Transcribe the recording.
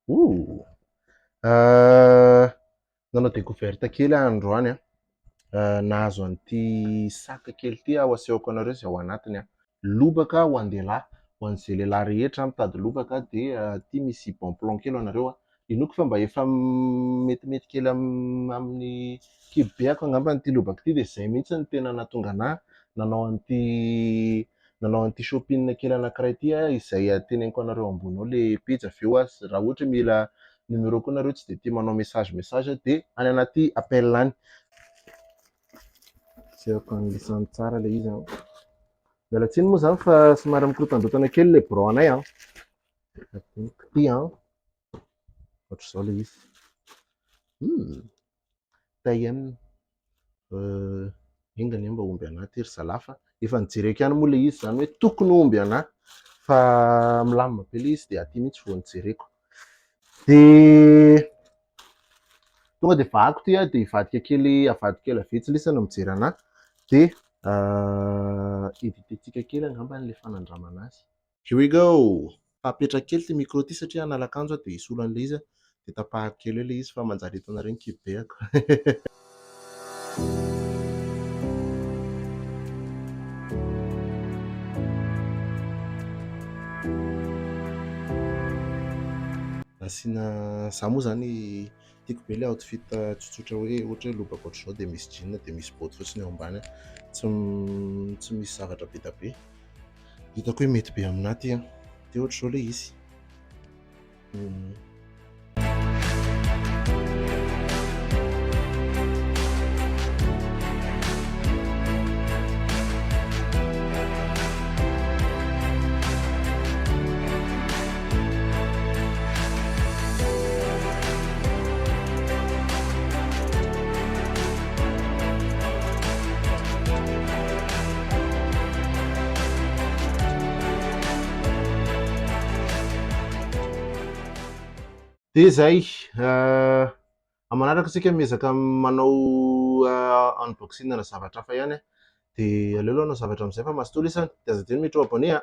Ooh. Uh, nanao découverte kely aho androany a. Uh, nahazo an'ity saka kely ity aho asehoko anareo izay ao anatiny a. Lobaka ho an-dehilahy, ho an'izay lehilahy rehetra mitady lobaka dia uh, ity misy bon plan kely anareo a. Inoako fa mba efa metimety kely amin'ny kibo be ako angamba ity lobaka ity dia izay mihitsy no tena nahatonga anà nanao an'ity nanao an'ity shopping kely anankiray ity aho izay teneniko anareo ambony ao ilay pejy avy eo aza raha ohatra hoe mila numéro ko nareo tsy dia tia manao message message dia any anaty appel any jereko any lisany tsara ilay izy an miala tsiny moa izany fa somary mikorontandrotana kely ilay birao anay an Ity an, ohatr'izao ilay izy. Hum, taien, enga anie mba omby anah ity ry zalahy fa efa nijereko ihany moa ilay izy izany hoe tokony ho omby anah fa milamina be ilay izy dia aty mihitsy vao nijereko. Dia tonga dia vahako ity dia hivadika kely avadika ela vitsy lisa no mijery anah dia éviter-tsika kely angamba ilay fanandramana azy. Here we go! Fa apetrako kely ity micro ity satria hanalakanjo aho dia hisolo an'ilay izy aho dia tapahako kely eo ilay izy fa manjary hitanareo ny kibeako. Nasiana, za moa zany Tiako be ilay outfit tsotsotra hoe ohatra hoe lobaka ohatr'izao dia misy jean dia misy boty fotsiny eo ambany. Tsy tsy misy zavatra be dia be. Hitako hoe mety be aminà ty an. Dia ohatr'izao ilay izy. Hmm. Dia izay, manaraka isika miezaka manao unboxing ana zavatra hafa ihany, dia aleo aloha hanao zavatra amin'izay fa mazotoa lesy an, dia aza adino mi trop abonné an.